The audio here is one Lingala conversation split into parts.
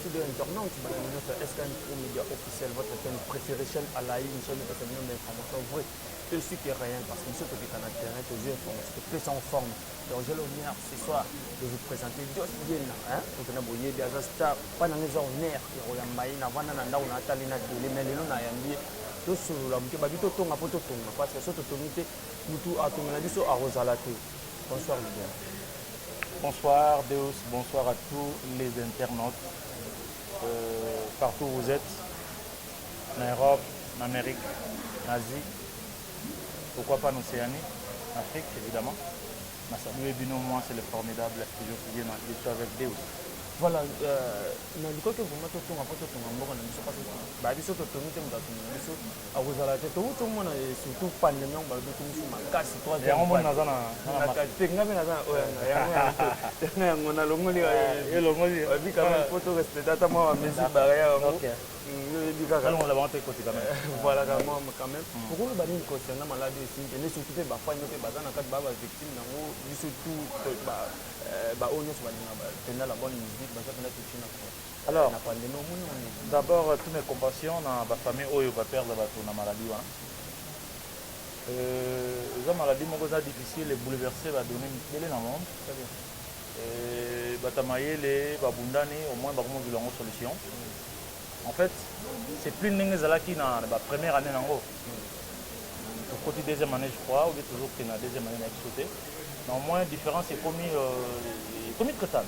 Studio Internaute, bana nyonso ya SKM Pro Media Officiel, votre chaîne préférée, chaîne à la une, chaîne epesa bino ba information vraie et supérieure parce que biso tokita na terrain tozwi information topesa en forme donc j'ai l'honneur ce soir de vous présenter Dios Yena hein tokenda boyebi aza star mpa nanga eza honneur ya koyamba ye navanda na ndako natali na tele mais lelo nayambi ye tosolola moke baki totonga mpo totonga parce que so totongi te mutu atongela biso akozala te Bonsoir leader. Bonsoir Deus, bonsoir à tous les internautes euh, partout où vous êtes, en Europe, en Amérique, en Asie, pourquoi pas en Océanie, en Afrique évidemment. Ma salué Bino, moi c'est le formidable studio qui vient je suis avec Deus. Voilà, euh, na likoki vraiment totonga mpo totonga mboka na biso kasi babiso totongi te moto atongi na biso akozala te towuti omona ye surtout pandemie yango balobi ekomisi makasi troisième fois naza na naka te nga mpe naza na oyo yanga yango yango yango nalongoli elongoli oyebi quand même faut to respecte ata mwa bamesure barrière yango oyebi kaka longola bango mpe ekoti quand même voilà kama quand même okoloba nini concernant maladi oyo esimbi kende surtout mpe bafani mpe baza na kati baa bavictime yango biso tout baoyo nyonso balinga mpenza la bonne musique baza mpenza touche na Alors d'abord tout mes compassion na ba famille oyo ba perdre batu na maladie wana euh, eza maladie moko eza difficile bouleverse ba donne mikele na monde euh, bata mayele babundani au moins bakomozela yango solution en fait c'est plus ndenge ezalaki na ba première année nango tokoti deuxième année je crois obi tozokende na deuxième année na biso te na au moins différence ekomi euh, ekomi traitable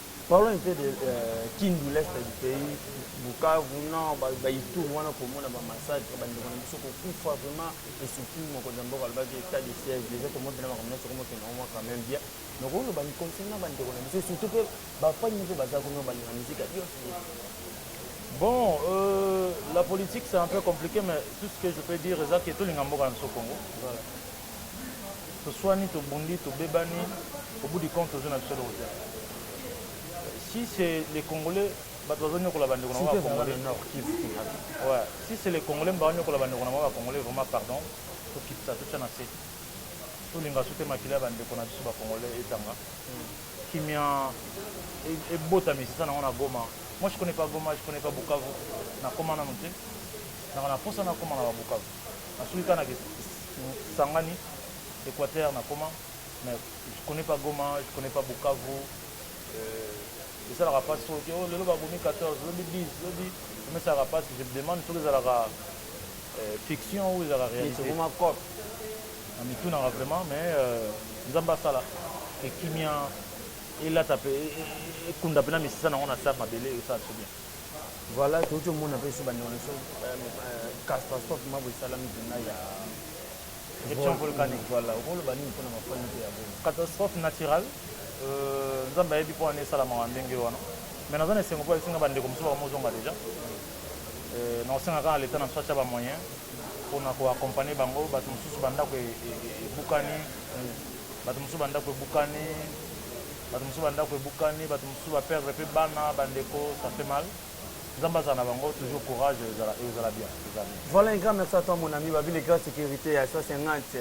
Parlons un peu de euh, Kindu, l'est du pays, Bukavu, non, ba, ba Ituri wana komona ba massacre ba ndeko na biso kokufa vraiment et surtout mokonzi ya mboka alobaki état de siège déjà tomotela makambo nyonso komotela yango quand même bien donc oyo bani concernant ba ndeko na biso et surtout mpe bafani mpe baza kuna balinga mizika nyonso Bon, euh, la politique c'est un peu compliqué, mais tout ce que je peux dire, c'est que tout le monde est au Congo. Voilà. Toswani, tobundi, tobebani, au bout du compte tozui na biso eloko te. Si c'est les Congolais bato bazoniokola bandeko na bango ba Congolais. Ouais, si c'est les Congolais mba baniokola bandeko na bango ba Congolais vraiment pardon, tokitisa totia na se. Tolinga su te makila ya bandeko na biso ba Congolais etanga. Kimia ebota misisa nango na Goma. Moi je connais pas Goma, je connais pas Bukavu. Nakoma nanu te. Nanga na posa nakoma na ba Bukavu. Nasuki kaka na Kisangani, Equateur nakoma mais je connais pas Goma, je connais pas Bukavu. Euh, esalaka mpasi soki oh, lelo babomi 14 lobi 10 lobi esalaka mpasi je me demande soki ezalaka euh, fiction ou ezalaka réalité na mitunaka vraiment mais euh, nzambe asala ekimia elata mpe e, e, e, ekunda mpe na misisa nango na sar mabele esala so bien Voilà, touti omona pe ba ndeko biso catastrophe mabo esalami pena ya éruption volcanique. Voilà, okoloba nini pona ba fani ya Goma? Catastrophe naturelle, euh, Nzambe ayebi pona nini esalamaka ndenge wana. Mais naza na esengo po esinga ba ndeko mosusu bakomozonga deja. Euh, na osenga kaka l'État na biso atia ba moyens pona ko accompagner bango, bato mosusu bandako ebukani, bato mosusu bandako ebukani, Bato mosusu bandako ebukani, bato mosusu ba perdre pe bana, ba ndeko, ça fait mal. Nzambe azala na bango toujours courage ezala ekozala bien ekozala bien. Voilà un grand merci à toi mon ami babi le grand sécurité ya 150 eh,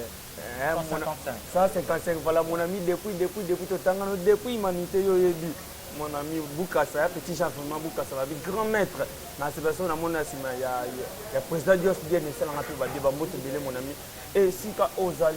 155 155 voilà mon ami depuis depuis depuis totangano depuis humanité yo yebi mon ami Bukasa, petit Jean vraiment Bukasa, la grand maître. Dans cette personne, à mon il y a président Dios bien, mais c'est la nature, mon ami. Et si tu as Ozali,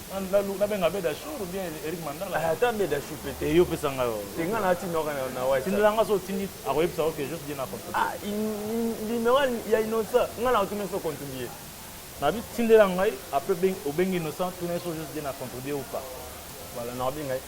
Mandalu na benga beda chour ou bien Eric Mandala ah, ata beda chour peut et yo pesa nga yo te nga na tinda ka na wa tinda nga so tindi ako yebisa ok juste bien na contribuer ah numéro ya innocent nga na tuna so contribuer na bi tindela ngai après obengi innocent tuna so juste bien na contribuer ou pas voilà na obenga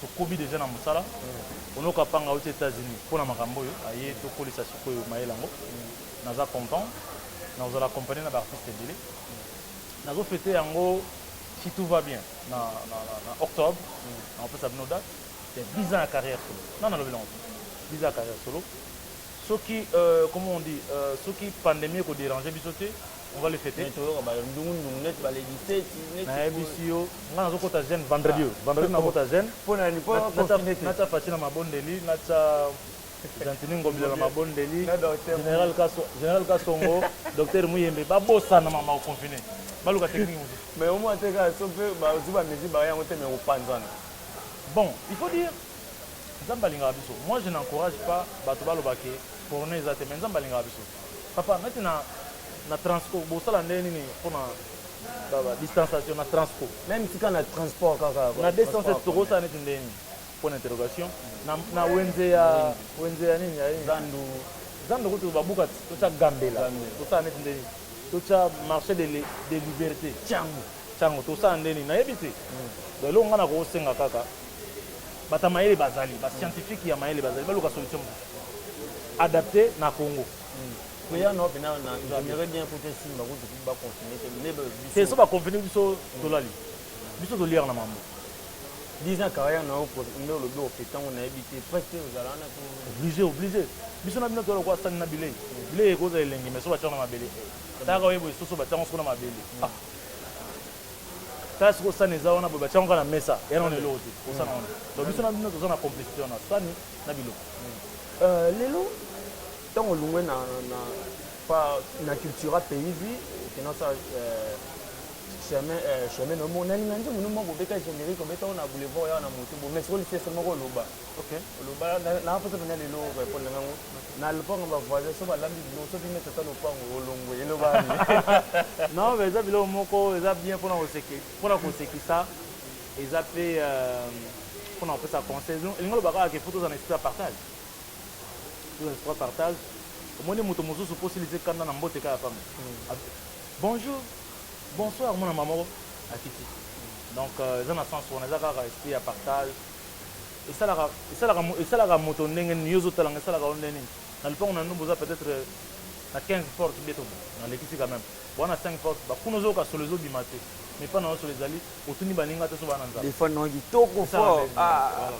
tokobi deja na mosala ono kapanga auti Etats-Unis mpo na makambo oyo aye tokolisa sikoyo mayele yango naza content na kozala accompagné na baartiste ebele nazo fete yango si tout va bien na, na, na, na octobre nakopesa bino date ya 10 ans ya carrière solo na nalobi nango 10 ans ya carrière solo Soki euh comment on dit euh soki pandemie eko deranger biso te on va le feter. Mais toyoka ba ndungu ndungu neti ba le 17 neti Na yebisi yo nga nazo kota jeune vendredi oyo vendredi nako kota jeune Pona nini po ba confiner te. Natia Fatshi na mabondeli natia Gentini Ngobila na mabondeli general kaso general kasongo docteur Muyembe ba bosana ma ko confiner ba luka technique mosusu. Mais omona te kaka soki pe bazui ba mesure ba yango te mais eko panzana. Bon il faut dire Nzambe alingaka biso moi je n'encourage pas batu baloba que corona eza te mais Nzambe alingaka biso papa neti na na transco bosala nde nini pona ba ba distanciation na transco meme tika na transport kaka na 207 tokosala neti nde nini point d'interrogation na na wenze ya wenze ya nini ya zandu zandu kutu babuka totia gambela tosala neti nde nini totia marché de de liberté tiango tiango tosala nde nini nayebi te hmm. donc eloko ngai nakosenga kaka Bato ya mayele bazali, ba scientifique ya mayele bazali, baluka solution mosusu adapte na Congo. Kuya na opena na j'aimerais bien kutu esimba kutu kutu ba confiner te lebe biso. Te so ba confiner biso tolali. Biso toliaka na mambo. 10 ans carrière na yo nde olobi oke ntango nayebi te presque ozala wana to oblige oblige biso na bino toyala kwa sani na bilei bilei ekozala elengi mais so batiango na mabele tayaka oyeba esoso batiango soko na mabele ah. Classe ko sani eza wana boye batiango kaka na mesa eza nanu eloko te ko sani wana donc biso na bino toza na complicite wana sani na biloko Euh, lelo ntango olungwe na, na, pa, na cultura pays vi okenda osala euh, chemin euh, chemin nomo na linga nzembo no moko obeta generique obeta oyo na boulevard yawa na moto bo mais sikoyo lisese moko oloba Ok, oloba na posa pena lelo ko répondre ngango na lopango ba voisins so balambi bino soki neti ata lopango olongwe eloba non mais eza biloko moko eza bien pona koseki pona kosekisa eza pe euh, pona kopesa conseil elingi oloba kaka ke faut tozala na esprit ya partage tozala na esprit ya partage omoni moto mosusu mpo osilisi kanda na mbote kaka pamba hmm. bonjour bonsoir mwana mama moko akiti donc euh, eza na sens wana eza kaka esprit ya partage esalaka esalaka esalaka moto ndenge nini yo ozo tala nga esalaka yo ndenge nini na lopango na ndumba oza peut-être na 15 porte bieto na lekisi quand même bon na 5 porte ba kuna ozoyoka solo ezo bima te mais pas na yo solo ezali otuni baninga te so bana nzala des fois non kitoko fort ah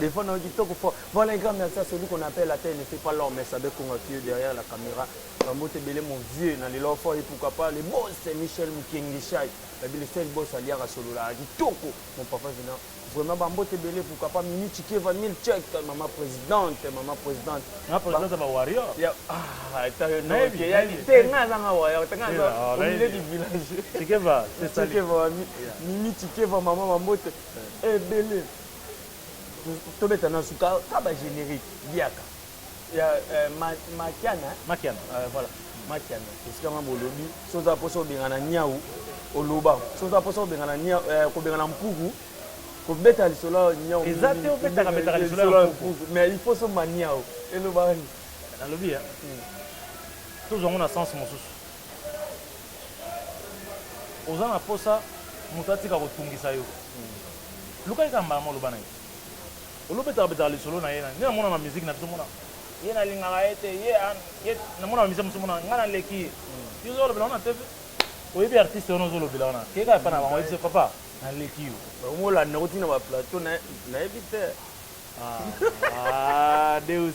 des fois non kitoko fort voilà un grand merci à celui qu'on appelle à terre ne fait pas l'homme mais savait qu'on a tué derrière la caméra bambote ebele mon vieux na lelo fort et pourquoi pas le boss Michel Mukengi Shai babi le seul boss aliaka solo la kitoko Mon papa Vina, vraiment ba mbote ebele pourquoi pas Mimi Chikeva Milchek, maman présidente, maman présidente. Na présidente ba, ba warrior. Ya ah, ta yo no ke ya ni te nga za nga warrior, ta nga za au milieu du village. Chikeva, c'est ça. Chikeva, Mimi Chikeva maman ba mbote ebele. Tobeta na suka ka ba générique biaka. ya eh, ma, makiana eh? makiana uh, voilà makiana esika nga bolobi so oza mposa obengana niau oloba so oza mposa obengana niau eh, kobengana mpuku kobeta lisolo ya niau eza te obetaka betaka lisolo ya mpuku mais il faut somba niau elobaka nini nalobi ya hmm. tozwa ngo na sens mosusu oza na mposa moto atika kotungisa yo hmm. lukaki kaka mbala moloba na ye Olo betaka betaka lisolo na ye na nde na mona ba musique na biso mona ye na lingaka ye te ye a ye na mona ba musiciens mususu mona nga na leki ye yo ozo lobela wana TV oyebi artiste wana ozo lobela wana keka epa na bango oyebisa ye papa na leki yo Ba komi kolanda ngo ti na ba plateau na na yebi te. Ah, ah, Deus.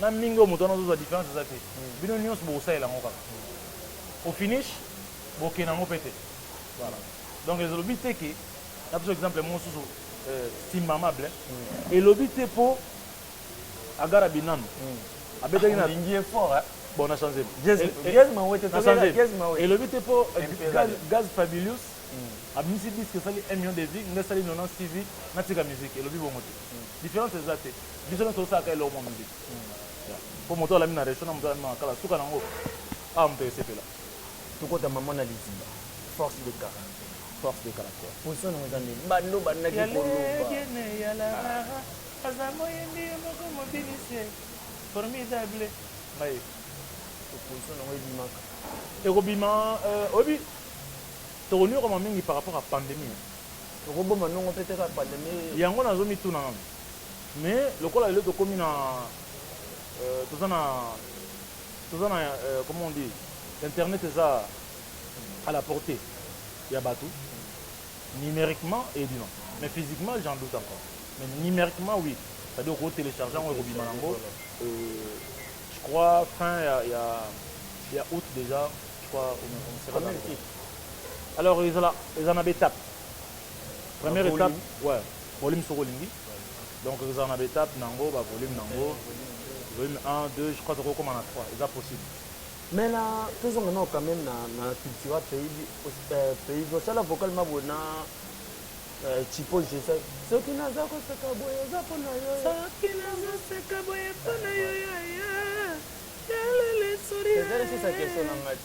na mingi oyo moto wana azozwa difference eza te bino nyonso bokosalela yango kaka au finish bokende yango mpe te voilà donc ezolobi te ke na biso exemple mosusu euh, simamable mm. elobi te mpo agara binano mm. abetaki na lingi effort hein? bon na change elobi te mpo gaz fabulus mm. abimisi disque esali 1 million de vie ngai esali 96 vie natika musique elobi bongo te difference eza te biso nyonso osalaka eloko mwa miziki mpo moto alami na resto na moto alami na makala suka na yango awa moto esepela tokota mama na liziba force de caractère force de caractère position nango eza ndeni bando bandaki koloba aza moyembi moko mobinisi formidable ngai opposition nango ebimaka ekobima euh, oyebi tokoniokwama mingi par rapport ya pandemie Toko boma nongo pe te kaka pandemie oyo. Yango nazo mituna nanu mais lokola lelo tokomi na toza na toza na comment on dit internet eza à la portee ya batu numeriquement eyebi non mais physiquement j'en doute encore mais numeriquement oui c'est à dire oko telecharge yango ekobima nango je crois fin ya ya ya aout dejà je crois on sera dans Alors ezala ezala na ba etapes. Première Ba volume. etape, ouais, volume soki olingi. Donc ekozala na ba etapes na yango, ba volumes na yango. Volume 1, 2, je crois tokoki kokoma na 3, eza possible. Mais na tozonga nao quand même na na cultura pays bi- os- eh, pays bi- osala vocal ma boye na eh, chipo jesa soki naza koseka boye eza mpo na yo soki nazoseka boye mpo na yo yaya yalele Ezali sisa question na ngai te.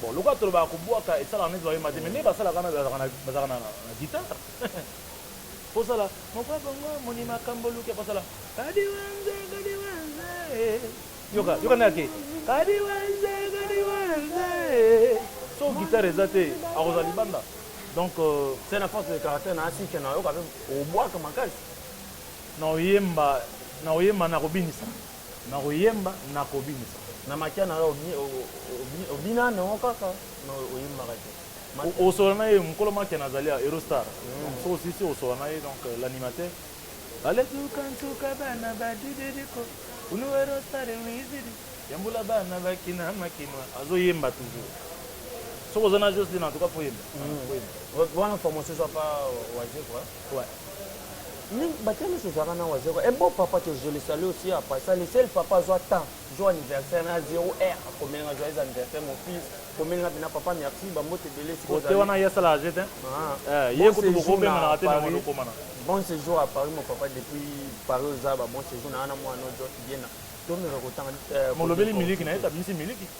Bon lokola tolobaka kobuaka esalaka neti bayemba te mais nde basalaka wana bazalaka na bazalaka na na guitare posala mokwa bongo moni makambo luke posala kadi wanze kadi wanze yoka yoka ndenge ake kadi wanze kadi wanze so guitare eza te akozala libanda donc euh, c'est na force de caractère na asike na yoka pe obwaka makasi na oyemba na oyemba na kobinisa Nako yemba nako binisa. Na makia na yo obina n'ango kaka mais oyembaka te. Osola na ye mukolo makia na zali ya Eurostar donc soki osilisi kosola na ye donc l'animateur Ale suka nsuka bana ba dididi ko ulu Eurostar wizidi ya mbula bana ba kina ma kinois azo yemba toujours soki oza na Jocelyn en tout cas fo yemba wana formation ezwa pa Wazekwa. Mingi batia miso zaka na wazeko. Un bon papa te je le salue aussi en passant. Le seul papa azwa temps, jour anniversaire na zero heure akomeli nga joyeux anniversaire mon fils. Komeli nga bina papa merci ba mbote ebele siko Kote ozali. wana ye asala age te. Ah. Eh, ye Bon kutu séjour bokobenganaka na te na Paris. mwana okomana. Bon séjour à Paris mon papa depuis Paris oza ba bon séjour na wana mwana ozo bien na. Tomeka kotanga. eh, Molobeli kote- miliki na ye, abimisi miliki.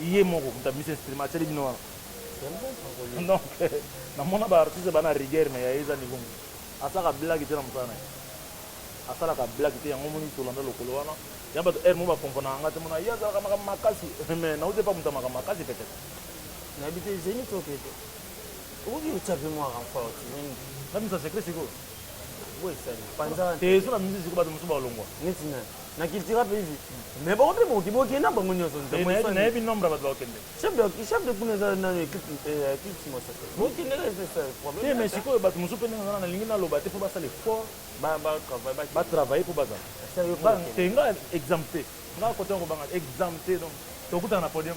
ye moko moto abimisi instrument atieli bino wana donc namona ba artiste ba na rigueur mais ya ye eza niveau mosusu asalaka blague te na mosala na ye asalaka blague te yango moni tolanda lokolo wana ya bato heure mo bakomponaka nga te mona ye azalaka makambo makasi mais nauti epa moto ya makambo makasi peut-être nayebi te zeni to kete okoki kotya mpe mwa renfort zeni nabimisa secret sikoyo boye esali panza te so na misi sikoyo bato mosusu balongwa neti nani na cultura mpe hivi mais bango mpe bokoki bokende na bango nyonso nayebi nombre ya bato bakokende chef de kuna eza nano equipe simosa te bokendeka te mais sikoyo bato mosusu mpe ndenge ozana nalingi naloba te mpo basala effort batravaille mpo bazala te nga exemple te nga kote ya kobanga exemple te donc tokutana na podium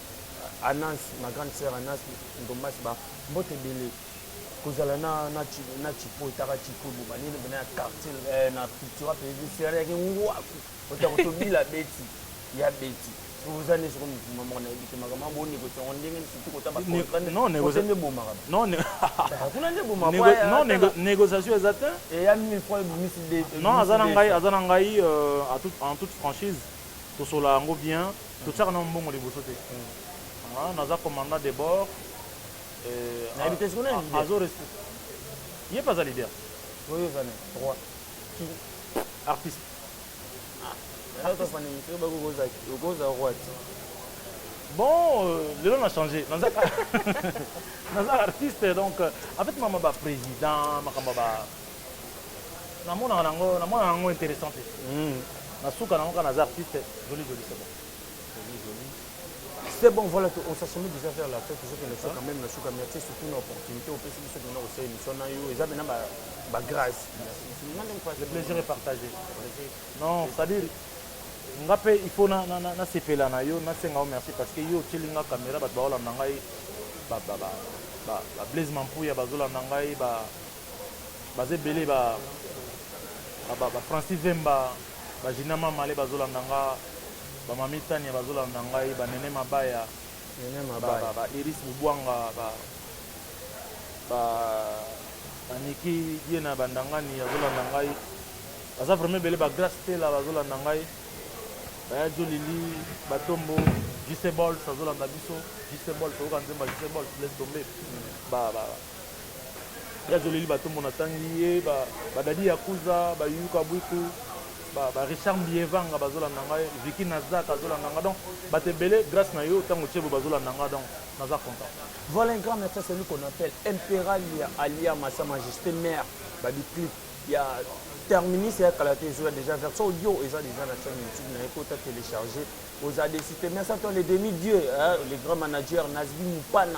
Anansi, ma grande sœur Anansi Ndombasi ba mbote ebele. Kozala na na na Chipo etaka Chipo bo bani na ya quartier eh, na piti wapi ebi sere ya kingwaku. Otako tobila beti ya beti. Oza ne soko mukuma moko na ebite makama bo ne kotongo ndenge ni situ kota ba kontra ne. Non négociation ne boma kaba. Non ne. Kuna ne boma kwa. Non négociation eza te. Et ya 1000 francs ebimisi de. Non azana ngai azana ngai euh, en toute franchise tosola yango bien. Totiaka nanu mbongo liboso te. Nga naza commandant de bord. Nayebi te soki nani leader. Azo respect. Ye pe aza leader. Oyo eza nani? Roi. Ki? Artiste. Lelo to fandi mpe ba kokoza kokoza roi ti. Bon, euh, lelo na changer. Naza naza artiste donc euh, en fait mama ba président makambo ba Na monaka na ngo, na monaka ngo interessant te. Na suka na ngo kaka naza artiste, jolie jolie c'est bon. Jolie jolie. C'est bon voilà on s'assomme déjà vers la fin tozo kende so quand même na suka merci surtout na opportunité opesi biso pena ko sala émission na yo eza pena ba ba grâce. Le plaisir est partagé. Non, c'est-à-dire nga pe il faut na na na sepela na yo na senga yo merci parce que yo otieli nga caméra bato baolanda ngai ba ba ba ba Blaise Mampuya bazolanda ngai ba baza ebele ba ba ba Francis Vemba ba Gina Mamale bazolanda nga ba Mami Tania bazolanda ngai ba Nene Mabaya Nene Mabaya ba, ba, ba Iris Bubwanga ba ba ba Niki Diena Bandangani azolanda ngai baza vraiment ebele ba Grace Tela bazolanda ngai baya Jolili Batombo JC Bols azolanda biso JC Bols oyoka nzemba JC Bols laisse tomber ba, ba, ba Très oleli ba tombo na tangi ye ba ba dadi yakuza ba yuka buiku ba ba Richard Mbievanga bazo landa nga Vicky Nazak azo landa nga donc bato ebele grace na yo tango otie boye bazo landa nga donc naza content. Voilà un grand merci à celui qu'on appelle Imperalia alia ma sa majeste mère ba bi clip ya terminus ya kala te ezoya deja version audio eza deja na chaîne youtube na ye kota telecharger oza desite merci à toi le demi dieu hein, le grand manager Nazbi Mupana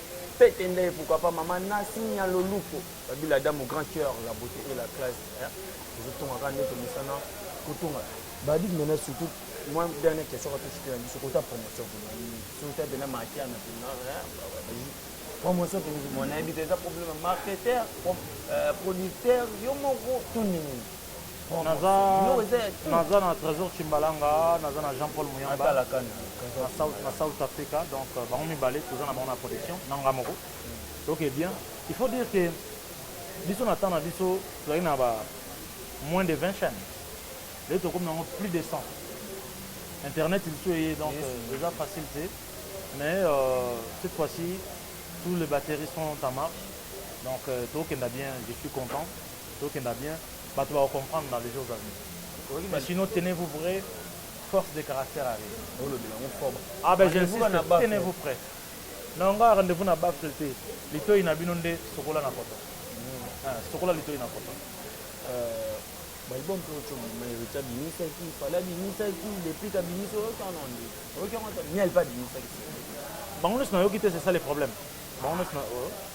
Pete ndaye pourquoi pas maman Nasi Nyaloluko. Babila Adamu grand cœur la beauté et la classe. Ezo tonga kaka ndoto misana kotonga. Badit mena surtout moi dernière question quand tu fais biso kota promotion pour nous. Surtout ta bena makia na pina. Promotion pour nous. Mon invité ça problème marketeur, euh, producteur, yo moko tout nini. Naza naza na tresor tshimbalanga naza na jean paul muyamba na south africa donc euh, bango mibale toza na bango na production na nga moko donc eh bien il faut dire que biso na temps na biso tozali na ba moins de 20 chaînes lelo tokomi nango plus de 100 internet lisusu eye donc euh, eza facile te mais euh, cette fois-ci tous les batteries sont en marche donc euh, tokenda bien je suis content Tokenda bien batu bako comprendre dans les jours à venir. Mais sinon tenez vous prêt force de caractère arrive. Olobela ngo fort. Ah ben j'insiste tenez vous prêt. Na nga rendez vous na baffle te. Litoyi na bino nde sokola na koto. Ah, sokola litoyi na koto. Euh balibom mpe ocomo mayorité abimisaki fale abimisaki depuis kabimisi oyokana nde oyoki yango ata miel mpe abimisaki bango nyonso nayoki te c'est ça le problème bango nyonso na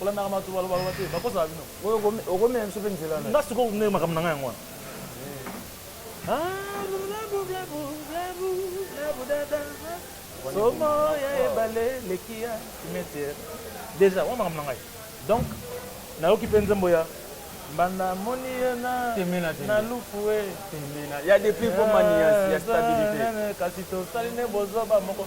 Olandaka bato baloba loba te, bakosaka bino. Oyo okomela biso pe nzela nayo. Nga sikoyo nde makambo na nga yango wana. Somo ya ebale leki ya cimetière. Deja wana makambo na ngai. Donc nayoki pe nzembo ya Banda moni ye na temena na lufu e temena ya depuis ko manias ya stabilité kasi tosali ne bozoba moko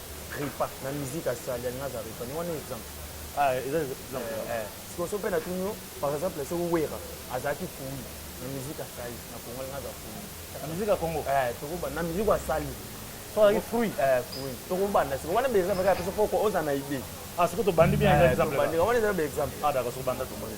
Repa na musique asali alingi aza repa ni wana exemple ah eza exemple eh, eh. sikoyo so mpe natuni yo par exemple soki wera azalaki fumi na musique asali na kongo alingi aza fumi na musique ya kongo eh, tokoba na musique asali soki fruit eh, fruit tokobanda sikoyo wana beza bakaya biso mpo ozala na idée ah sikoyo tobandi bien exemple wana eza exemple ah d'accord sokobanda tomoni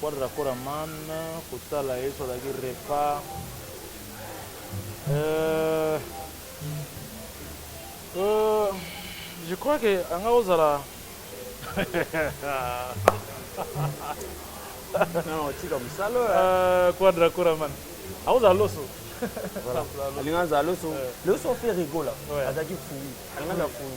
Quadra kora man kotala yesu azalaki repa euh, euh, je crois que anga ozala non tika mosala euh, quadra kora man akozala loso alinga azala loso loso fe rigola azalaki fui alinga azala fui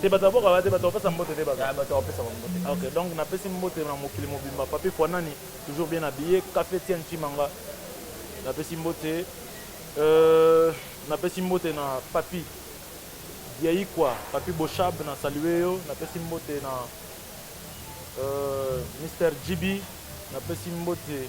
te bato ya boka ba te bato bapesa mbote te bato bapesa mbote ah, ok donc napesi mbote na mokili mobimba papi fwanani toujours bien habillé café tian chimanga napesi mbote euh, napesi mbote na papi diaikwa papi boshab na salue yo napesi mbote na euh, mr gb napesi mbote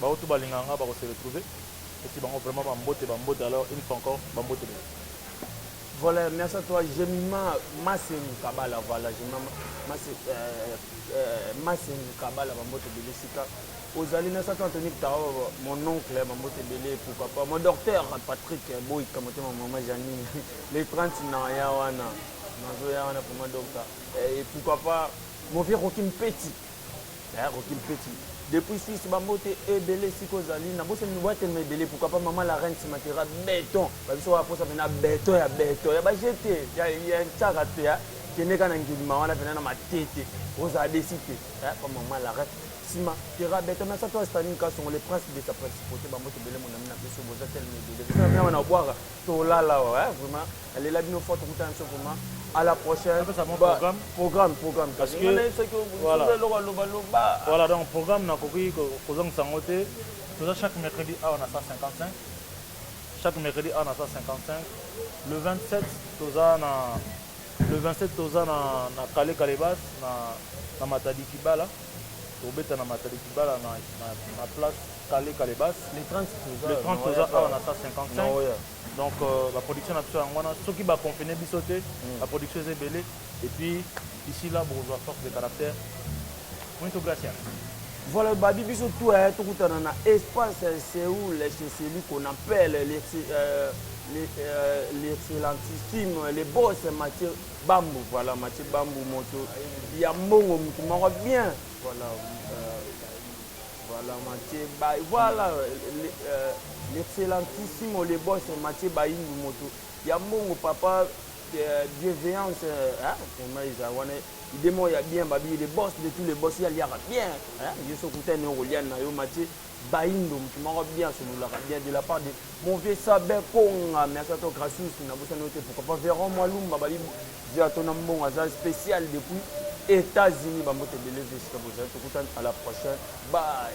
Ba oyo tout ba lingaka nga bako se retrouver pesi bango vraiment ba mbote ba mbote alors une fois encore ba mbote ebele. Voilà merci à toi Jemima Masengu Kabala voilà Jemima Masengu euh, euh, Masengu Kabala ba mbote ebele sika ozali merci à toi Anthony Tao mon oncle ba mbote ebele pourquoi pas mon docteur Patrick Boyka motema maman Janine les 30 na ya wana nazo ya wana pour moi docteur et pourquoi pas mon vieux Rocky Mpeti Yaya Rocky Mpeti depuis Suisse ba mbote ebele siko ozali na bosa mini watelema ebele pourquoi pas maman la reine simatera beton ba biso wa posa pena beton ya beton ya ba jete ya ya nchaka te ya kende kana ngilima wana pena na matete oza desi te ya pa maman la reine sima tera beton mais ça toi Staline Kasongo le prince de sa principauté ba mbote ebele mon ami na biso boza telema ebele biso na mia wana obwaka tolala wa vraiment Na lela bino fort tokutana biso vraiment à la prochaine apesa bango Ba- programme programme programme Parce que- Nga nayebi soki o- voilà. soki eloko aloba loba voilà donc programme nakoki ko- kozongisa yango te toza chaque mercredi awa na 155 chaque mercredi awa na 155 le 27 toza na le 27 toza na, na kale kalebas na, na matadi kibala tobeta na matadi kibala na, na, na place kale kalebas le 30 toza le 30 na toza Royal awa na Palace. 155 Na Royal. donc euh, ba production na biso yango wana soki ba confine biso te mm. ba production eza ebele et puis ici là bokozwa force de caractère muito gracias voilà babi biso tout aya eh, tokutana na espace eh, seoul eh, chez celui qu'on appelle l'excellentissime euh, le boss mathieu bambu voilà mathieu bambu moto ya mbongo motu moko bien voilà euh, Voilà Mathieu Bay. Voilà euh, euh, l'excellentissimo le boss Mathieu Bayindu moto ya mbongo papa euh, bienveillance hein vraiment eza wana idemo ya bien babi le boss de tous les boss ya liaka bien hein yo so kutani okolia na yo Mathieu Bayindu moto moko bien sololaka bien de la part de mon vieux Sabin Konga merci à toi Gracious na bosani yo te pourquoi pas Véron Mwalumba babi Vieux Atona Mbongo aza special depuis Etats Unis ba mbote ebele vieux esika bozali tokutani à la prochaine bye